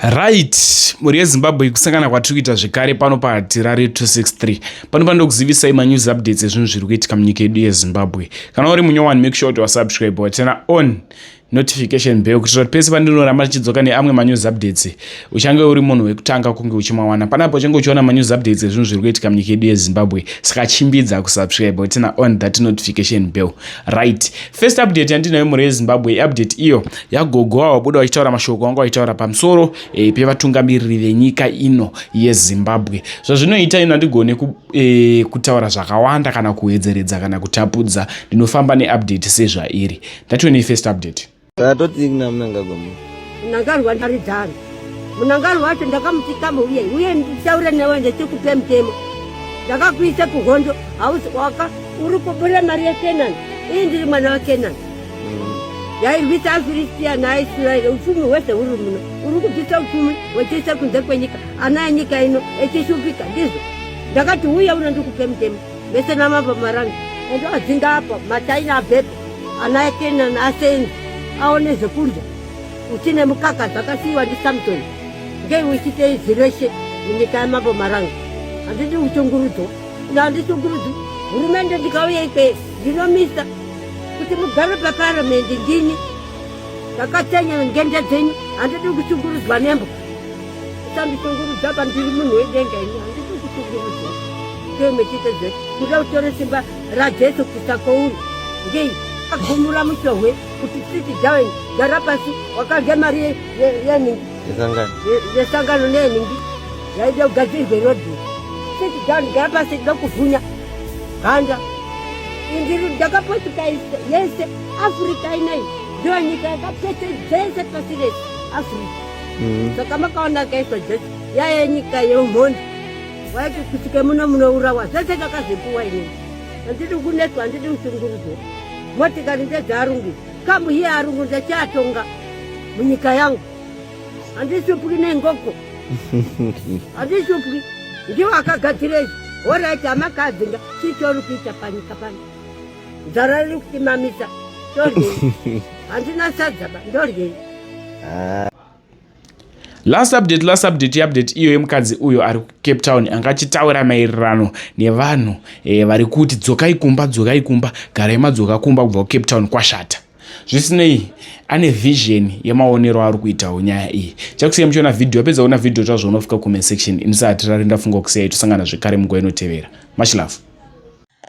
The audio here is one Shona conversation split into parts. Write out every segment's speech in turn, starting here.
Right, mhuri yeZimbabwe kusangana kwatiri kuita zvekare pano paTirare 263. Pano panoda kuzivisai manews updates ezvinhu zviri kuitika munyika yedu yeZimbabwe. Kana uri munyowani make sure kuti wasubscribe watena on notification bell kuitira kuti pese pandinoramba ndichidzoka neamwe manews updates uchange uri munhu wekutanga kunge uchimawana panapo uchange uchiona manews updates ezvinhu zviri kuitika munyika yedu yezimbabwe saka chimbidza kusubscribe watena on that notification bell right First update yandinayo mhuri yeZimbabwe update iyo yagogo wavo wabuda vachitaura mashoko anga vachitaura pamusoro e, pevatungamiriri venyika ino yeZimbabwe. Zvazvinoita ino handigone ku, e, kutaura zvakawanda kana kuwedzeredza kana kutapudza ndinofamba neupdate sezvairi. Ndatiwe nei first update. Tatoti kuna mnangagwa mu. Munangarwa ndaridzana. Munangarwa wacho ndakamuti kama uye uye nditaure newe ndechikupe mutemo. Ndakakuisa kuhondo hausi waka uri kubura mari yeKenani. Iyi ndiri mwana waKenani. yairwisa afiristiya naaisraeri upfumi hwese huri muno uri kubvisa upfumi hwechese kunze kwenyika ana enyika ino echishupika ndizvo ndakati uye unondikupe mutemo vese namabva maranga ende wadzinga apa mataina abhebha ana ekenani asenzi aone zvekudya uti nemukaka zvakasiyiwa ndisamson ngei uchite izwi reshe munyika yamambo maranga handidi kushungurudzwa ino handishungurudzwi hurumende ndikauya ikweyo ndinomisa kuti mugare paparamendi ndini ndakatenya ngende dzenyu handidi kushungurudzwa nembo Sandishungurudza apa ndiri munhu wedenga ini handisi kushungurudza ndiyo mechitedze kuda kutore simba rajesu kuisa kwouri ngei agumura muchohwe kuti siti down gara pasi wakarya mari yeningi yesangano neyeningi yaida kugadzirwe rodhi siti down gara pasi ida kuvhunya ganda ndiri ndakapotika yese afrika inai ndiyo nyika yakapese dzese pasi rese afrika mm. saka makaona akaitwa jesu yaya nyika yeumhondi waiti kusvike muno munourawa zvese kakazvipuwa ini handidi kunetswa handidi kushungurudzwa motikari ndedzearungu kamu hiye arungu ndechiatonga munyika yangu handishupwi nengoko handishupwi ndiwo akagadzira izvi horaiti amakadzinga chichori kuita panyika pano Nzara riri kutimamisa. Ndoryei. Handina sadza ba. Ndoryei. Ah. last update last update yeupdate iyo yemukadzi uyo ari kucape town anga achitaura maererano nevanhu e, vari kuti dzokai kumba dzokai kumba garai madzoka kumba kubva kucape town kwashata zvisinei ane vision yemaonero ari kuitawo nyaya iyi chakusiya muchiona vhidhiyo apedza kuona vhidhiyo tazvoona kufika comment section ini sahatirari ndafunga kusiya itosangana zvekare munguva inotevera much love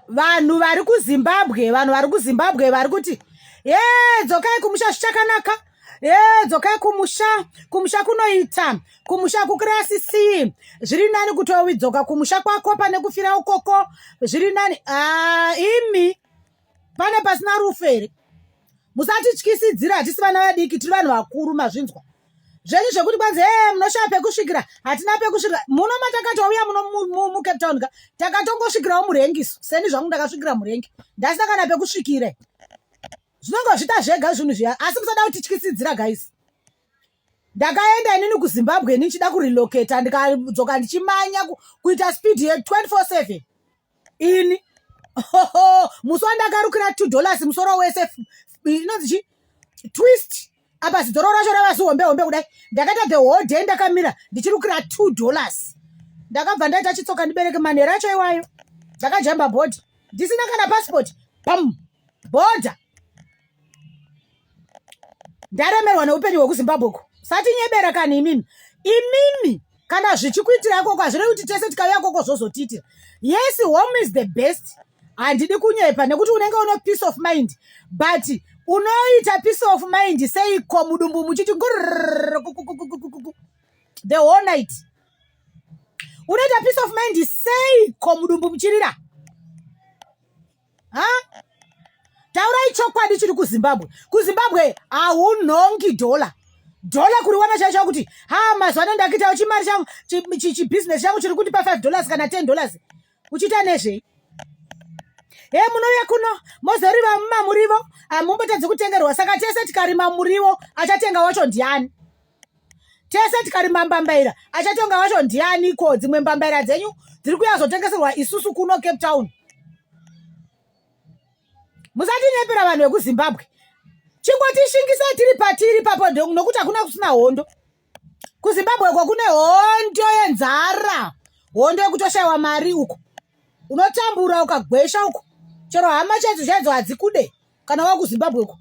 vanhu vari kuzimbabwe vanhu vari kuzimbabwe vari kuti ye dzokai kumusha zvichakanaka ye dzokai kumusha kumusha kunoita kumusha kukirasi c zviri nani kutowidzoka kumusha kwako pane kufira ukoko zviri nani ah, imi pane pasina rufu here musatityisidzira hatisi vana vadiki tiri vanhu vakuru mazvinzwa zvenyu zvekuti kwanzi ee eh, munoshaya pekusvikira hatina pekusvikira muno matakatouya muno mucape town ka takatongosvikirawo murengiso seni zvangu ndakasvikira murengi ndasina kana pekusvikire zvinongozvita zvega zvinhu zviya asi musada kutityisidzira guys ndakaenda inini kuzimbabwe ini ndichida kurelocata ndikadzoka ndichimanya kuita speed ye 24 7 ini oh, musi wandakarukira two dollars musoro wese inonzi chi twist apa zidoro racho rava zihombe hombe kudai ndakaita the whole day ndakamira ndichirukira two dollars ndakabva ndaita chitsoka ndibereke manhero acho iwayo ndakajamba bhodha ndisina kana passport pam bhodha ndaremerwa neupenyu hwekuzimbabwe uko satinyebera kani imimi imimi kana zvichikuitira ikoko hazvirei kuti tese tikauya ikoko zvozotiitira yes home is the best handidi kunyepa nekuti unenge uno peace of mind but unoita peace of mind seiko mudumbu muchiti the whole night unoita peace of mind seiko mudumbu muchirira ha taurai chokwadi chiri kuzimbabwe kuzimbabwe haunhongi dhola dhola kuriwana chai chavo kuti ha mazuva ano ndakuitawo chimari changu chibhizinesi changu chiri kundipa five dollars kana ten dollars uchiita nezvei he munouya kuno mozoriva mumamurivo hamumbotadzi kutengerwa saka tese tikarima murivo achatenga wacho ndiani tese tikarima mbambaira achatonga wacho ndiani ko dzimwe mbambaira dzenyu dziri kuya zotengeserwa isusu kuno cape town musatinyepera vanhu vekuzimbabwe chingotishingisa tiri patiri papo nokuti hakuna kusina hondo kuzimbabwe ko kune hondo yenzara hondo yekutoshaiwa mari uko unotambura ukagwesha uko chero hama chedzo chaidzo hadzikude kana wakuzimbabwe uko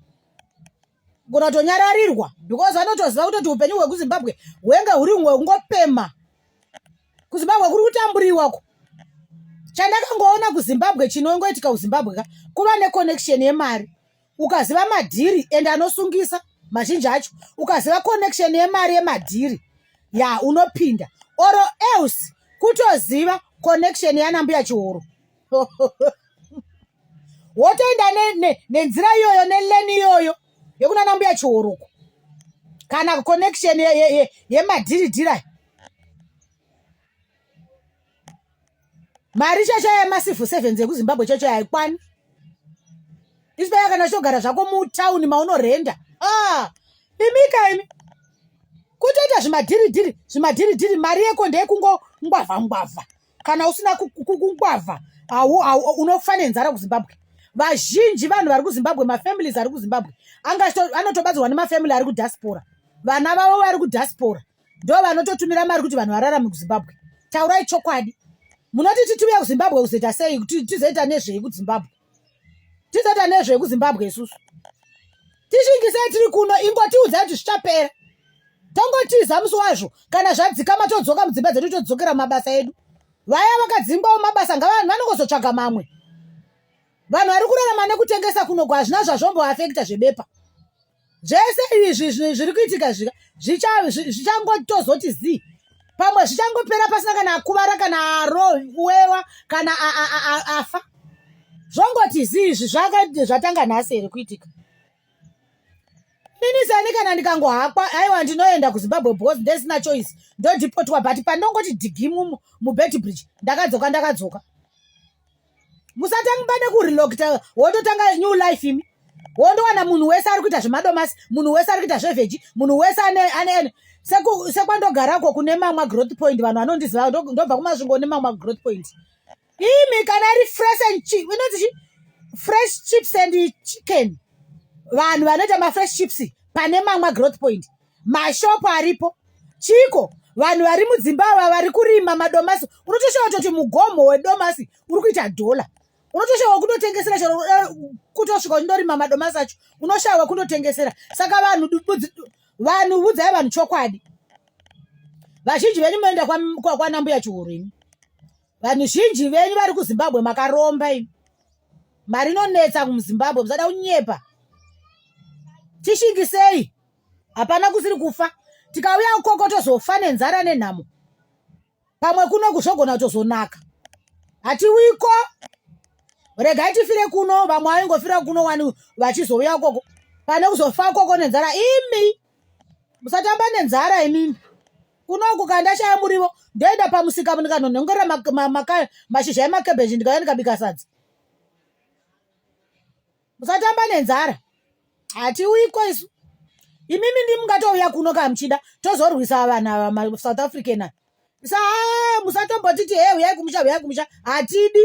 gona tonyararirwa because vanotoziva kutoti upenyu hwekuzimbabwe hwenge huri umwe kungopema kuzimbabwe kuri kutamburiwa ku chandakangoona kuzimbabwe chinongoitika kuzimbabwe ka kuva neconnection yemari ukaziva madhiri and anosungisa mazhinji acho ukaziva connection yemari yemadhiri ya unopinda or else kutoziva connection yanambuya chihoro wotoenda nenzira ne, ne iyoyo neleni iyoyo yekuna nambuya chihoruko kana connection yemadhiridhira ye, ye, ye mari chacho yemasifu sevens ekuzimbabwe chacho haikwani isipaya kana chitogara zvako mutauni maunorenda ah, imika imi kutoita zvimadhiridhiri zvimadhiridhiri mari yeko ndeyekungongwavha ngwavha kana usina kungwavha unofa nenzara kuzimbabwe vazhinji vanhu vari kuzimbabwe mafamilies ari kuzimbabwe anotobatsirwa nemafamily ari kudiaspora vana vavo vari kudiaspora ndo vanototumira mari kuti vanhu vararame kuzimbabwe taurai chokwadi munoti titumiya kuzimbabwe kuzoita sei tizoita nezvei kuzimbabwe tisata nezve kuzimbabwe isusu tishingisei tiri kuno ingotiudza kuti zvichapera tongotiza musi wazvo kana zvadzikama todzoka mudzimba dzedu todzokera mabasa edu vaya vakadzingwawo mabasa ngavanhu vanongozotsvaga mamwe vanhu vari kurarama nekutengesa kunogwa hazvina zvazvomboafekta zvebepa zvese izvi zvi- zviri kuitika zvika zvicha- zvi- zvichangotozoti zii pamwe zvichangopera pasina kana akuvara kana arowewa kana a- a- a- a- afa zvongoti zii izvi zvaka- zvatanga nhasi here kuitika ini sani kana ndikangohakwa aiwa ndinoenda kuzimbabwe because ndesina choice ndodhipotwa but pandongoti dhigi mu- mubed bridge ndakadzoka ndakadzoka musatangibane kurelocta wototanga new life imi wondowana munhu wese ari kuita zvemadomasi munhu wese ari kuita zveveji munhu wese aneane sekwandogarako kune mamwa growth point vanhu vanondiziva ndobva kumasvingo nemamwa growth point imi kana iri fresh and chip inoti chi fresh chips and chicken vanhu vanoita mafresh chips pane mamwa growth point mashopu aripo chiko vanhu vari mudzimba ava vari kurima madomasi unotoshava kutoti mugomo wedomasi uri kuita dhola unotoshava kundotengesera chero eh, kutosvika uchindorima madomasi acho unoshava kundotengesera saka vanhu vanhu vudzai vanhu chokwadi vazhinji venyu moenda kwanambuya chihuru ini vanhu zhinji venyu vari kuzimbabwe makaromba ini mari inonetsa kumuzimbabwe musada kunyepa tishingisei hapana kusiri kufa tikauya ukoko tozofa nenzara nenhamo pamwe kuno kuzvogona kutozonaka hatiwiko regai tifire kuno vamwe vaingofira kuno wani vachizouya ukoko pane kuzofa ukoko nenzara imi musatamba nenzara imimi kunoku kandashaya murivo ndoenda pamusika ndikanonhongera mashizha emakebheji ndikauya ndikabika sadza musatamba nenzara hatiuyiko isu imimi ndi mungatouya kuno ka muchida tozorwisa vanhu ava masouth african a sa musatombotiti he uyai kumusha uyai kumusha hatidi